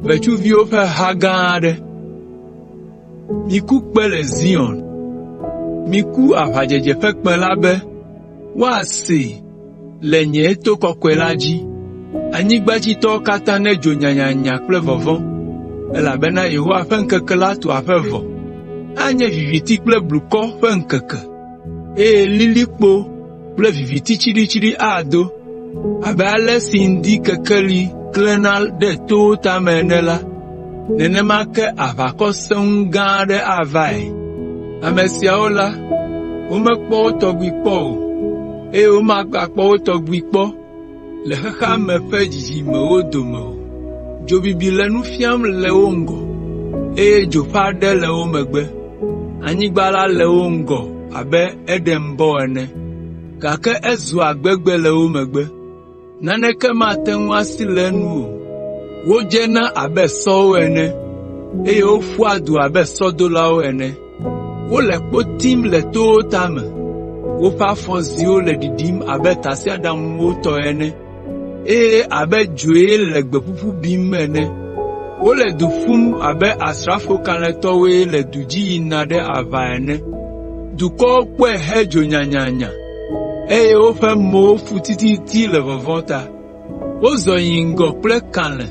Ʋetsuviwo ƒe ha gã aɖe. Miku kpe le Zion, miku aʋadzedze ƒe kpẽ la be, woasee. le nye to kɔkɔe la dzi. Anyigbadzitɔwo katã nedzo nyanyanya kple vɔvɔ̃, elabena Yehowa ƒe ŋkeke la tu aƒe vɔ. Anye viviti kple blukɔ ƒe ŋkeke, eye lilikpo kple viviti tsiɖitsiɖi ado. Abe ale si ŋdi kekeli klẽna ɖe towo tame ene la, nenema ke aʋakɔ sẽŋu gã aɖe avae. Ame siawo la, womekpɔ wo tɔgbi kpɔ o, eye womagakpɔ wo tɔgbi kpɔ le xexea me ƒe dzidzimewo dome o. Dzo bibi le nu fiam le wo ŋgɔ, eye dzo ƒe aɖe le wo megbe. Anyigba la le wo ŋgɔ abe Edenbɔ ene, gake ezua gbegbe le wo megbe. naneke mate ŋu asi le enu o. Wodzena abe sɔwo ene, eye woƒua du abe sɔdolawo ene. Wole kpo tim le towo tame, woƒe afɔziwo le ɖiɖim abe tasiaɖamwo tɔ ene, eye abe dzoe le gbe ƒuƒu bim ene. Wole du ƒum abe asrafo kalẽtɔwoe le du dzi yina ɖe aʋa ene. Dukɔwo kpɔe hedzo nyanyanya. eye woƒe mowo fu tititi le vɔvɔ̃ ta. Wozɔ yi ŋgɔ kple kalẽ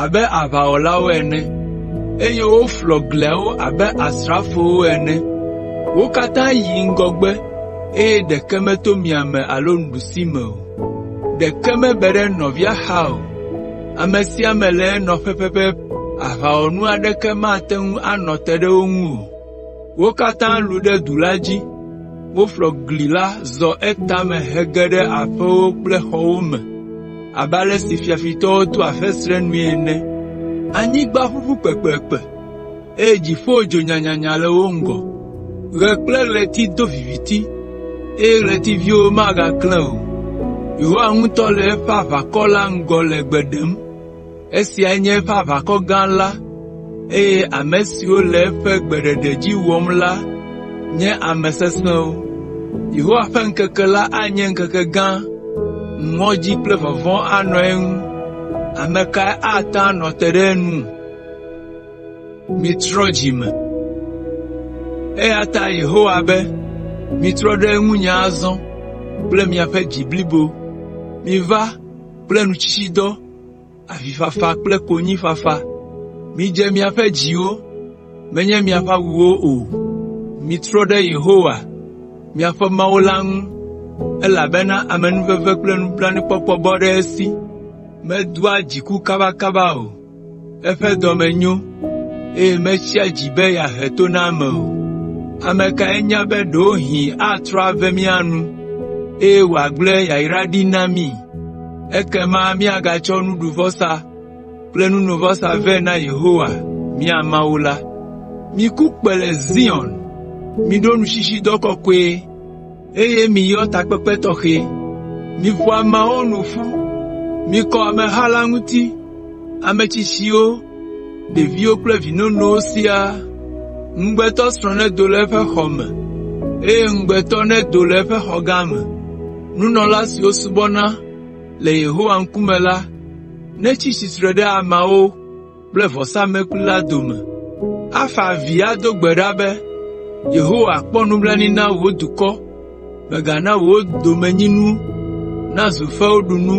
abe aʋawɔlawo ene, eye woflɔ gliawo abe asrafowo ene. Wo katã yi ŋgɔgbe eye ɖeke meto miame alo ɖusime o. Ɖeke mebe ɖe nɔvia xa o. Ame sia ame le enɔƒe pɛpɛpɛ. Aʋawɔnu aɖeke mate ŋu anɔ te ɖe wo ŋu o. Wo katã lũ ɖe du la dzi, woƒlɔ gli la zɔ etame hege ɖe aƒewo kple xɔwo me abe ale si fiafitɔwo toa fesre nue ene. Anyigba ʋuʋu kpekpekpe, eye dziƒo dzo nyanyanya le wo ŋgɔ. Ɣe kple ɣleti do viviti, eye ɣletiviwo megaklẽ o. Yehowa ŋutɔ le eƒe aʋakɔ la ŋgɔ le gbe ɖem. Esiae nye eƒe aʋakɔ gã la, eye ame siwo le eƒe gbeɖeɖe dzi wɔm la nye ame sesẽwo. Yehowa ƒe ŋkeke la anye ŋkeke gã, ŋɔdzi kple vɔvɔ̃ anɔ eŋu. Ame kae ate ŋu anɔ te ɖe enu? Eya ta Yehowa be, “Mitrɔ ɖe ŋunye azɔ kple miaƒe dzi blibo, miva kple nutsitsidɔ avifafa kple konyifafa. Midze miaƒe dziwo, menye miaƒe awuwo o. Mitrɔ ɖe Yehowa, miaƒe Mawu la ŋu, elabena amenuveve kple nublanuikpɔkpɔ bɔ ɖe esi, medoa dziku kabakaba o. Eƒe dɔme nyo, eye metsia dzi be yeahe to na ame o. Ame kae nya be ɖewohĩ atrɔ ave mía nu, eye wòagblẽ yayra ɖi na mí? Ekema míagatsɔ nuɖuvɔsa kple nunovɔsa vɛ na Yehowa, mía Mawu la. Miku kpẽ le Zion! Miɖo nutsitsidɔ kɔkɔe. eye miyɔ takpekpe tɔxɛ. Miƒo ameawo nu ƒu, mikɔ ameha la ŋuti, ame tsitsiwo, ɖeviwo kple vi nonowo siaa. Ŋugbetɔsrɔ̃ nedo le eƒe xɔ me, eye ŋugbetɔ nedo le eƒe xɔ gã me. Nunɔla siwo subɔna le Yehowa ŋkume la netsi tsitre ɖe ameawo kple vɔsamlekpui la dome, afa avi ado gbe ɖa be, “Yehowa, kpɔ nublanui na wò dukɔ, mègana wò domenyinu nazu fewuɖunu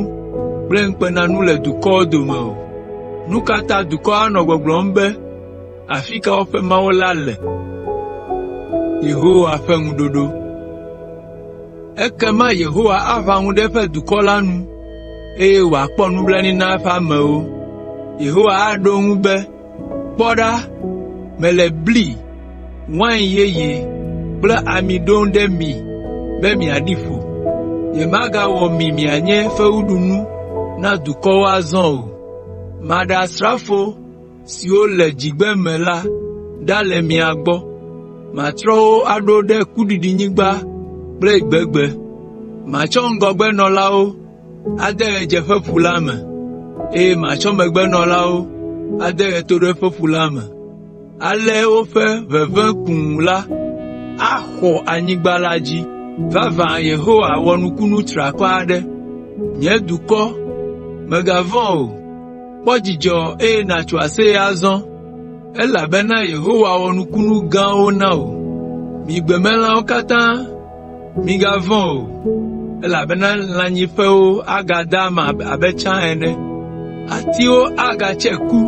kple ŋukpenanu le dukɔwo dome o. Nu ka ta dukɔ anɔ gbɔgblɔm be, ‘Afi ka woƒe Mawu la le?’ ” Ekema Yehowa aʋã ŋu ɖe eƒe dukɔ la nu, eye wòakpɔ nublanui na eƒe amewo. Yehowa aɖo eŋu be, “Kpɔ ɖa, mele bli, wain yeye kple ami ɖom ɖe mi be miaɖi ƒo. Nyemagawɔ mi mianye fewuɖunu na dukɔwo azɔ o. Maɖe asrafo siwo le dzigbeme la ɖa le mia gbɔ. Matrɔ wo aɖo ɖe kuɖiɖinyigba kple gbegbe. Matsɔ ŋgɔgbenɔlawo ade ɣedzeƒeƒu la me, eye matsɔ megbenɔlawo ade ɣetoɖoƒeƒu la me. Ale woƒe ʋeʋẽ kũu la axɔ anyigba la dzi. Vavã Yehowa wɔ nukunu triakɔ aɖe. Nye dukɔ, mègavɔ̃ o. Kpɔ dzidzɔ, eye nàtso aseye azɔ, elabena Yehowa wɔ nukunu gãwo na wò. Mi gbemelãwo katã, migavɔ̃ o, elabena lãnyiƒewo agada ama abe tsã ene. Atiwo agatse ku,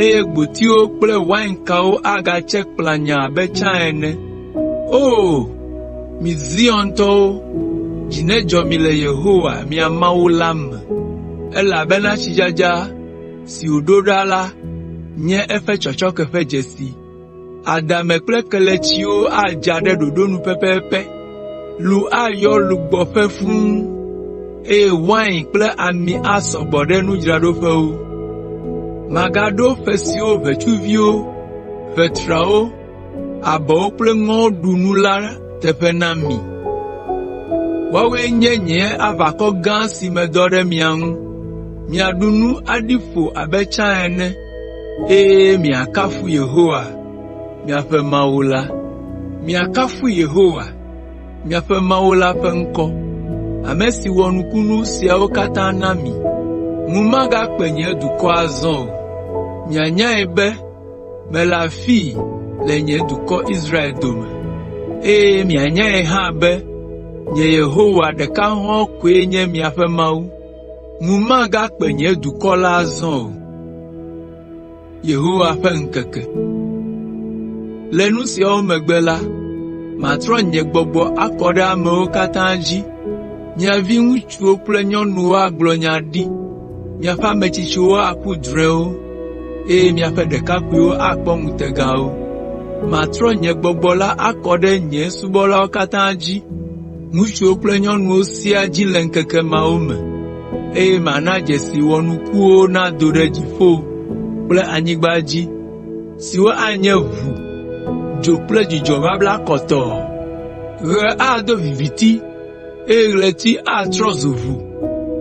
eye gbotiwo kple wainkawo agatse kplanyaa abe tsã ene. “O! Mi Ziontɔwo, dzi nedzɔ mi le Yehowa, mia Mawu la me, elabena tsidzadza si wòɖo ɖa la nye eƒe tsɔtsɔke ƒe dzesi. Adame kple kelemetsiwo adza ɖe ɖoɖo nu pɛpɛpɛ, lu ayɔ lugbɔƒe fũ, eye wain kple ami asɔ gbɔ ɖe nudzraɖoƒewo. Magaɖo ƒe siwo ʋetsuviwo, ʋetrawo Abɔwo kple ŋɔwo ɖu nu la teƒe na mi. Woawoe nye nye aʋakɔ gã si medɔ ɖe mia ŋu. Miaɖu nu aɖi ƒo abe tsã ene, eye miakafu Yehowa, miaƒe Mawu la. Mikafui Yehowa, miaƒe Mawu la ƒe ŋkɔ, ame si wɔ nukunu siawo katã na mi. Ŋu magakpe nye dukɔ azɔ o. Mianyae be Mele afii le nye dukɔ Israel dome, eye mianyae hã be nye Yehowa ɖeka hɔ̃ɔ koe nye miaƒe Mawu. Ŋu magakpe nye dukɔ la azɔ o.” “Le nu siawo megbe la, matrɔ nye gbɔgbɔ akɔ ɖe amewo katã dzi. Mia viŋutsuwo kple nyɔnuwo agblɔ nya ɖi, Miaƒe ame tsitsiwo aku drɔ̃ewo, eye miaƒe ɖekakpuiwo akpɔ ŋutegawo. Matrɔ nye Gbɔgbɔ la akɔ ɖe nye subɔlawo katã dzi, ŋutsuwo kple nyɔnuwo siaa dzi le ŋkeke mawo me, eye mana dzesi wɔnukuwo nado ɖe dziƒo kple anyigba dzi, siwo anye ʋu, dzo kple dzudzɔ babla kɔtɔɔ. Ɣe ado viviti eye ɣleti atrɔ zu ʋu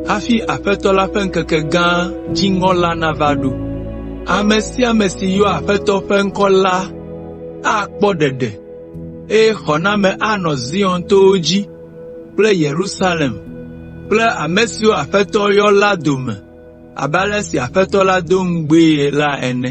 hafi Aƒetɔ la ƒe ŋkeke gã dziŋɔ la nava ɖo. Ame sia ame si yɔa Aƒetɔ ƒe ŋkɔ la akpɔ ɖeɖe, eye xɔname anɔ Zion towo dzi kple Yerusalem kple ame siwo Aƒetɔ yɔ la dome abe ale si Aƒetɔ la do ŋugbee la ene.